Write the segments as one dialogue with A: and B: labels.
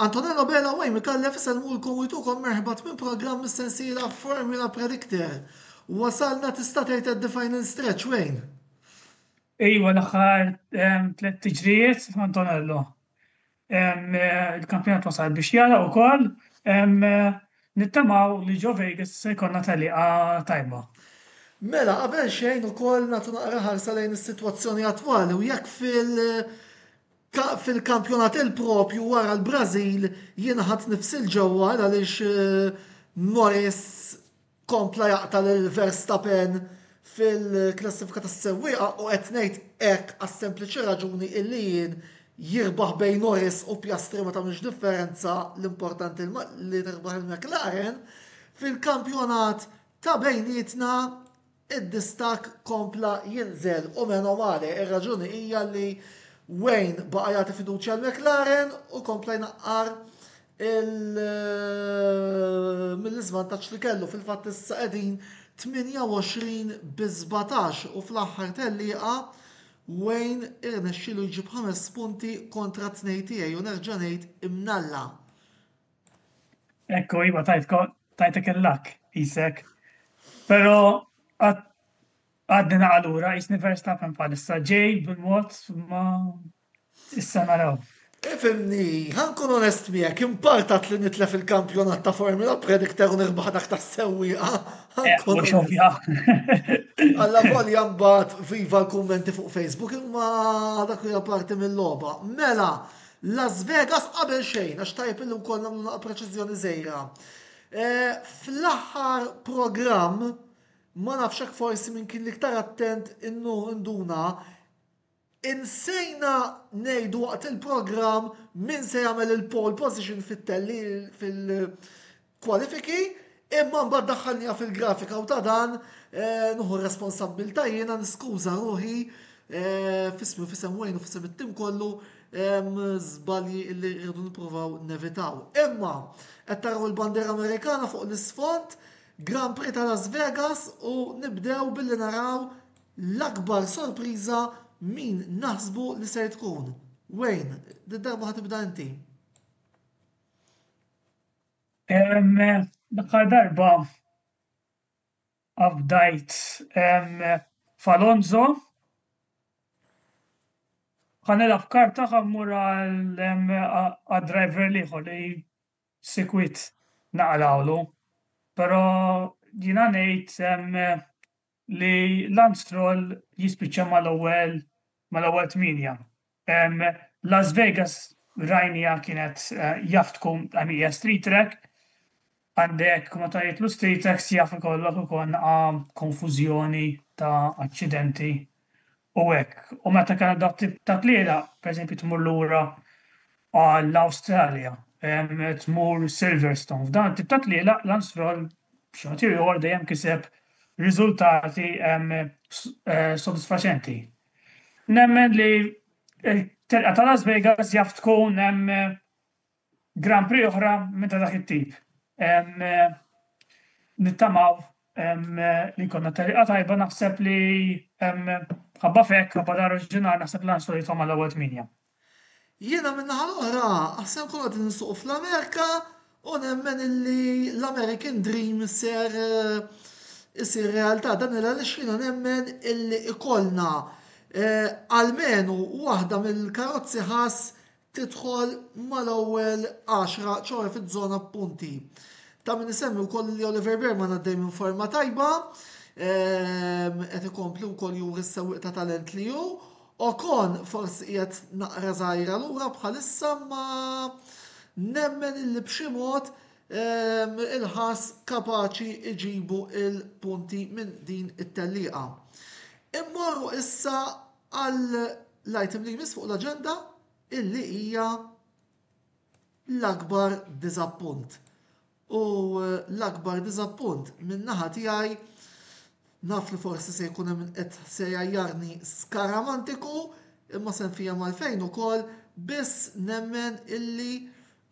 A: Antonello Bela u Amy Kallef isalmulkom u jtukom merħba minn programm mis-sensiela Formula Predictor. Wasalna tista' tgħid at the final stretch Wayne. Ejwa
B: l-aħħar ehm, tliet tiġrijiet Antonello. Il-kampjonat wasal biex jara wkoll nittamaw li ġo Vegas se jkollna teliqa tajba. Mela
A: qabel xejn ukoll nagħtu naqra ħarsa lejn is-sitwazzjoni attwali u jekk fil fil-kampjonat il-propju wara l-Brażil jiena ħadt nifsi l-ġewwa għaliex Moyes Kompla jaqta' lil Verstappen fil-klassifika tas-sewwieqa u qed ngħid hekk għas-sempliċi raġuni illi jien jirbaħ bejn Norris u Piastri ma tagħmilx differenza l-importanti li tirbaħ il-McLaren, fil-kampjonat ta' bejnietna d-distakk kompla jinżel u meno male ir-raġuni hija li Wayne baqa' jagħti fiduċja l-McLaren u kompla jnaqqar mill-iżvantaġġ li kellu fil-fatt issa qegħdin 28 bi 17 u fl-aħħar tellieqa Wayne irnexxielu jġib ħames punti kontra t-tnejn tiegħi u nerġa' ngħid imnalla.
B: Ekku iva tajtek il-lak isek. Però għadni naqalura jisni Verstappen bħalissa ġej bil-mod ma Issa naraw. Ifhimni,
A: ħa nkun onest miegħek, impartat li nitlef il-kampjonat ta' Formula Predictor u nirbaħ dak ta' sewwieqa. Alla volja mbagħad viva l-kummenti fuq Facebook imma dak hija parti mill-logħba. Mela, Las Vegas qabel xejn għax tajb illum kollha nagħmlu preċiżjoni żejra. Eh, fl-aħħar programm ma nafx hekk forsi minn kien l-iktar attent innu nduna Insejna ngħidu waqt il-programm min se jagħmel il-pole position fit-telli fil-kwalifiki, imma mbagħad daħħalniha fil-grafika u ta' dan eh, nuħu r-responsabbilta jiena niskuża ruħi eh, fismi fisem wejn u fisem it-tim kollu żbalji li rridu nippruvaw nevitaw. Imma qed taraw il-bandera Amerikana fuq l-isfond, Grand Prix ta' Las Vegas u nibdew billi naraw L-akbar sorpriża min naħsbu li ser tkun? Wayne, din darba ħa tibda inti.
B: L-aħħar darba abdajt f'Alonso. Ħa nilgħab karta ħa mmur għad-driver l-ieħor li sikwit naqrawlu. Però jiena ngħid li Lance Stroll jispiċċa mal-ewwel mal-ewwel tmienja. Las Vegas rajnija kienet eh, jaftku għamija street track, għandek ma ta' jitlu street tracks jaf ikollok ukoll konfużjoni ta' aċċidenti u hekk. U meta kellek dawk tip ta' tlielaq, pereżempju tmur lura għall-Awstralja, tmur Silverstone, f'dawn it-tip ta' tlielaq Lance Stroll b'xi mod jew ieħor dejjem kiseb riżultati sodisfaċenti. Nemmen li t-telqa ta' Las Vegas jaf tkun Grand Prix oħra minn ta' dak it-tip. Nittamaw li konna teliqa tajba naħseb li ħabba fek, ħabba dar oriġinar naħseb lan soli tfama l-ewwel tminja. Jiena
A: minn naħa l-oħra, aħsem konna qegħdin nsuqu fl-Amerika u nemmen illi l-American Dream ser isir realtà. Dan il għaliex jiena nemmen illi ikollna almenu waħda mill-karozzi ħass tidħol mal-ewwel għaxra ċoħe fiż-żona punti. Ta' min isemmi wkoll li Oliver Berman għaddej minn forma tajba, ehm, qed ikompli wkoll juri s-sewwieq ta' talent li hu. Okon forsi qiegħed naqra żgħira lura bħalissa ma nemmen illi b'xi mod ehm, il-ħas kapaċi iġibu il-punti minn din it-telliqa. Immorru issa għal l-item li jmiss fuq l-aġenda illi hija l-akbar diżappunt. U l-akbar diżappunt min-naħa tiegħi naf li forsi se jkun hemm qed se jajjarni skaramantiku imma se nfija malfejn ukoll biss nemmen illi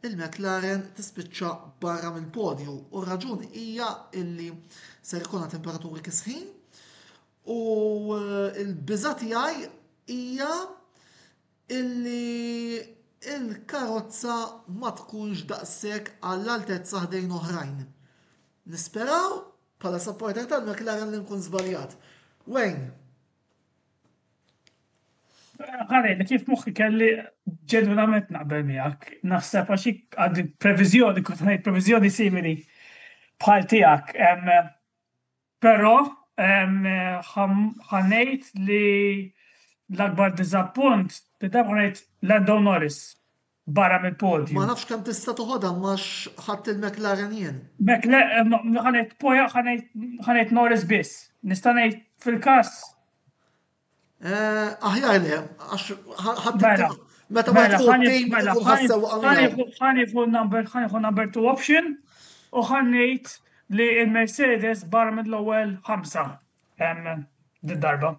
A: il-McLaren tispiċċa barra mill-podju u r-raġuni hija illi ser ikolna temperaturi kisħin U l-biża' tiegħi hija illi l-karozza ma tkunx daqshekk għall-altezza ħdejn oħrajn. Nisperaw bħala supporter tal-McLaren li nkun żbaljat. Wayne.
B: Ħarej, li kif moħħi kelli ġenwinament naqbel miegħek, naħseb għax għad previżjoni, kont ngħid previżjoni simili bħal tiegħek. Però ħa ngħid li l-akbar diżappunt li dawk rajt Lando Norris barra mill-podju. Ma nafx kemm tista' toħodha
A: imma x'ħadt il-McLaren jien. Ħa
B: ngħid Poja ħa ngħid Norris biss. Nista' ngħid fil-każ
A: Eh, aħjar le, għax ħadd mela, meta ma mela, tkun tim mela, tkun ħassew ħanifu
B: number ħanifu number two option u ħannejt li il-Mercedes bar mill-ewwel ħamsa darba.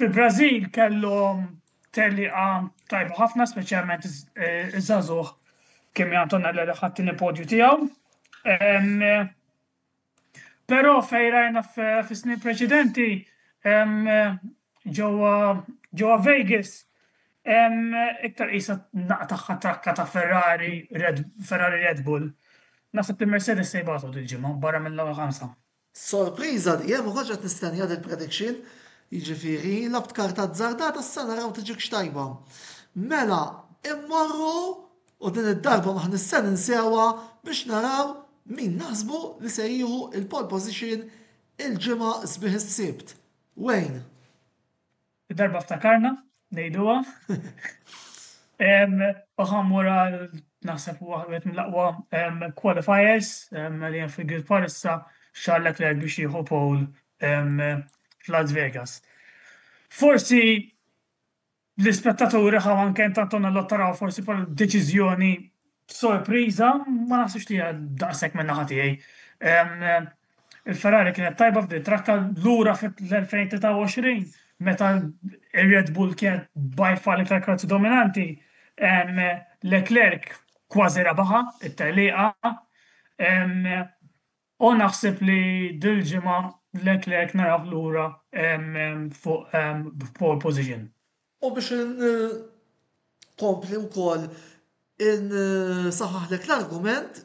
B: Fil-Brażil kellhom teliqa tajba ħafna speċjalment iż-żagħżugħ kemm Antonella li ħadd il-podju tiegħu. Però fejn rajna fis-snin preċedenti ġewwa ġewwa Vegas iktar qisha n-naqqa tagħha trakka ta' Ferrari Red Ferrari Red Bull. Naħseb li Mercedes se jbatu dil-ġimgħa barra mill-ewwel ħamsa. Sorpriża
A: li hemm u kontx qed nistennija dil prediction, jiġifieri labt karta azzardata issa naraw tiġikx tajba. Mela immorru. U din id-darba ma aħniex se ninsewha biex naraw min naħsbu li se jieħu l-pole position il-ġimgħa sbieħ is-Sibt. Wayne.
B: Id-darba ftakarna ngħiduha. U ħa mmur għal naħseb huwa wieħed mill-aqwa qualifiers li hemm fil-grid bħalissa Charles Leclerc biex jieħu pole f'Las Vegas. Forsi L-ispettaturi ħaw anke intant konna l-għodd taraw forsi bħala deċiżjoni sorpriża, ma naħsibx li hija daqshekk minn naħa tiegħi. Il-Ferrari kienet tajba f'din trakka lura fl-2023 meta ir-Red Bull kienet by far l-iktar karozza dominanti, Leclerc kważi rebaħha it-tellieqa, O naħseb li dil-ġimgħa Leclerc narah lura fuq b'pole position. U biex
A: inkompli wkoll insaħħaħlek l-argument,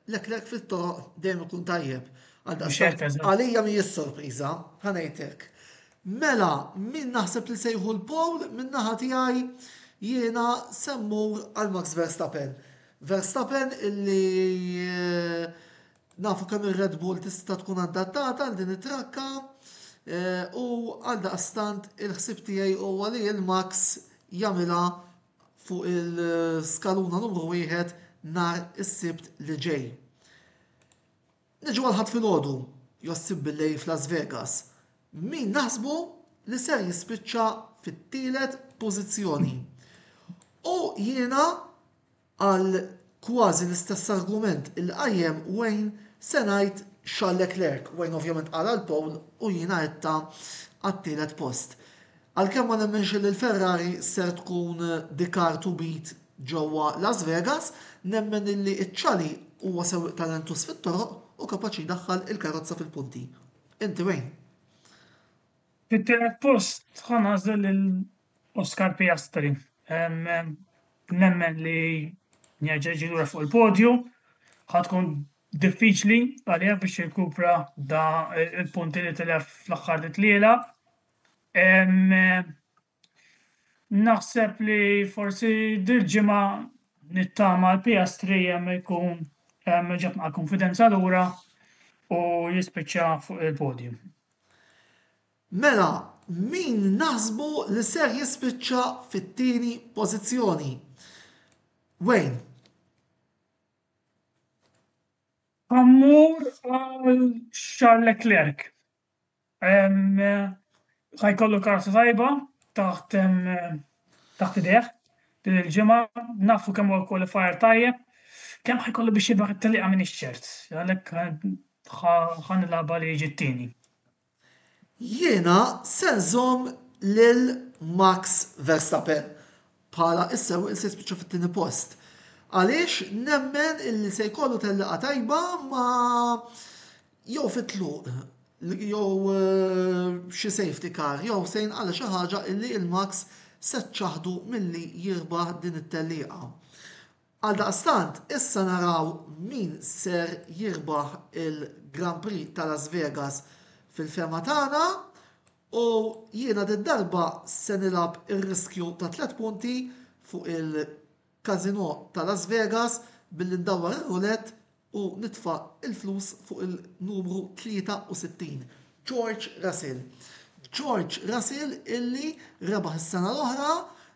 A: Leclerc fit-toroq dejjem ikun tajjeb. Għaldaqstant għalija mhijiex sorpriża, ħa ngħidlek. Mela, min naħseb li se jieħu l-pole, min-naħa tiegħi jiena se mmur għal Max Verstappen. Verstappen illi nafu kemm ir-Red Bull tista' tkun adattata għal din it-trakka u għaldaqstant il-ħsieb tiegħi huwa li l-Max jagħmilha fuq il-skaluna numru wieħed nhar is-Sibt li ġej. Niġu għal Ħadd filgħodu, jossib billejl f'Las Vegas, min naħsbu li ser jispiċċa fit-tielet pożizzjoni. U jiena għal kważi l-istess argument li qajjem Wayne se ngħid Charles Leclerc, Wayne ovvjament qal għal pole u jiena għedtha għat-tielet post. Għalkemm ma nemminx li l-Ferrari ser tkun the car to beat ġewwa Las Vegas, nemmen illi Chali huwa sewwieq talentuż fit-toroq u kapaċi jdaħħal il-karozza fil-punti. Inti Wayne? Fit-tielet
B: post ħa nagħżel lil Oscar Piastri. Nemmen li jerġa' jiġi lura fuq il-podju ħa tkun diffiċli għalih biex jirkupra da il-punti li tilef fl-aħħar tliela Naħseb li forsi dil-ġimgħa nittama l-PS3 hemm ikun ġab mal-kunfidenza lura u jispiċċa fuq il-podium.
A: Mela, min naħsbu li ser jispiċċa fit-tieni pożizzjoni? Wayne.
B: Immur għal Charles Leclerc. Ħa jkollu karozza tajba taħt taħt idejh din il-ġimgħa, nafu kemm huwa kwalifajer tajjeb, kemm ħa jkollu biex jirbaħ it-tellieqa m'iniex ċert, għalhekk ħa nilgħabha li jiġi t-tieni.
A: Jiena se nżomm lil Max Verstappen Bħala issa Wales se jispiċċa fit-tieni post. Għaliex nemmen illi se jkollu tellieqa tajba ma jew fit-tluq jew eh, xi safety car jew se jinqala xi ħaġa illi il-Max se ċaħdu milli jirbaħ din it-tellieqa. Għal daqstant, issa naraw min ser jirbaħ il-Grand Prix ta' Las Vegas fil-fema tagħna U jiena did-darba se nilgħab ir-riskju ta' tliet punti fuq il-casino ta' Las Vegas billi ndawwar ir-roulette u nitfa' l-flus fuq il-numru 63, George Russell. George Russell illi rebaħ is-sena l-oħra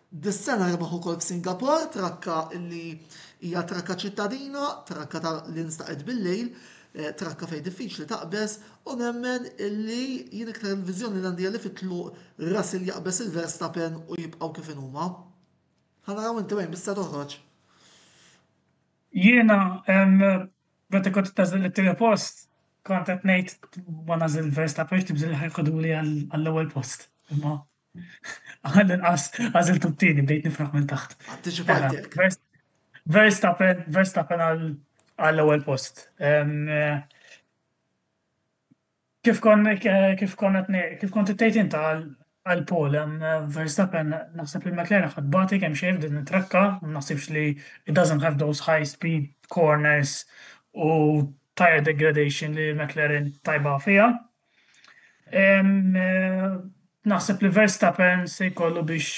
A: Dis-sena rebaħ ukoll f'Singapore trakka li hija trakka ċittadina, trakka ta' li nstaqet bil-lejl, trakka fejn diffiċli taqbeż u nemmen li jien iktar il-viżjoni li għandi hija li fit-tluq Russell jaqbeż lil Verstappen u jibqgħu kif inhuma. Ħa naraw inti wejn biss se toħroġ.
B: Jiena meta kont tażel it-tieni post kont qed ngħid ma nażel Verstappen għax tibżilha jħoduli għall-ewwel post. Imma Għal inqas għażiltu t-tieni bdejt nifraħ minn taħt. Antiċipajtek.
A: Verstappen,
B: Verstappen għall-ewwel post. Kif kon kif kon kif kont ittejt inta għal Paul Verstappen naħseb li McLaren ħad bati kemm xejn din it-trakka, naħsibx li it doesn't have those high speed corners u tire degradation li McLaren tajba fija. Naħseb li Verstappen se jkollu biex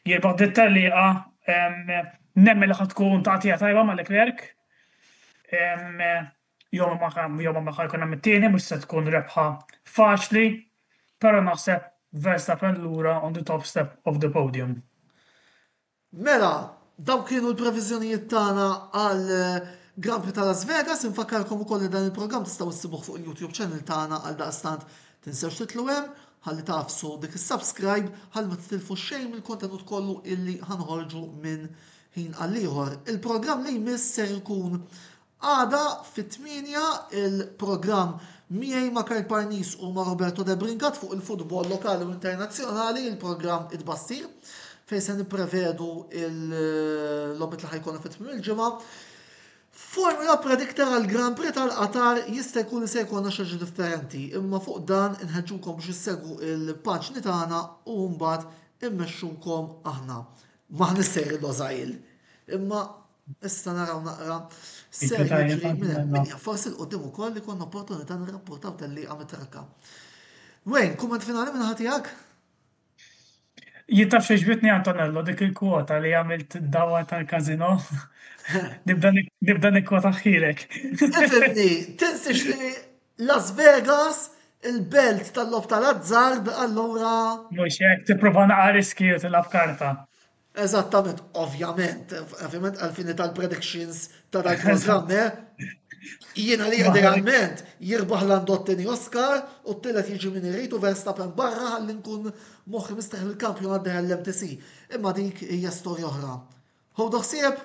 B: jirbaħ dit taliqa nemmen li ħad tkun tagħtija tajba ma' Leclerc. Jew ma ħa jkun hemm it-tieni mhux se tkun rebħa faċli, però naħseb Verstappen lura on the top step of the podium.
A: Mela, dawk kienu l-previżjonijiet tagħna għal Grand Prix ta' Las Vegas, infakkarkom ukoll li dan il-programm tistgħu ssibuh fuq il-YouTube channel tagħna għal daqstant tinsewx titlu hemm ħalli tafsu dik is-subscribe ħalli ma titilfu xejn mill-kontenut kollu illi ħanħorġu minn ħin għal ieħor. Il-programm li jmiss ser ikun Għada fit-tmienja il-programm Miegħi ma' Karl Parnis u ma' Roberto De Brincat fuq il-futbol lokali u internazzjonali, il-programm It-Tbassir, fejn se nipprevedu l-logħbiet li ħa jkollna fi tmiem il-ġimgħa. Formula predictor għal Grand Prix tal-Qatar jista' jkun li se jkollna xi ħaġa differenti, imma fuq dan inħeġġukom biex issegwu l-paġni tagħna u mbagħad immexxukom aħna. M'aħniex sejrin Losail, imma Issa naraw naqra ser jiġri minn hemm. Forsi l-qudiem ukoll li konna opportunità nirrapportaw tal-li għamil trakka. Wayne, kumment finali minn ħatijak?
B: Jittaf xieġbitni Antonello dik il-kwota li għamilt dawa tal-kazino. Nibda nikkwota ħilek. Tifimni,
A: tinsiex li Las Vegas il-belt tal-lob tal-azzard allura. Mhux hekk
B: tipprova naqgħa riskju tilgħab karta. Eżattament,
A: ovvjament, ovvjament għal-fini tal-predictions ta' dal programm eh? Jiena li idealment jirbaħ l-andottini Oscar u t-tillet jiġi min irritu Verstappen barra għalli nkun moħħi mistaħ il-kampjon għaddeħ l-MTC. Imma dik hija storja oħra. Hu doħsieb?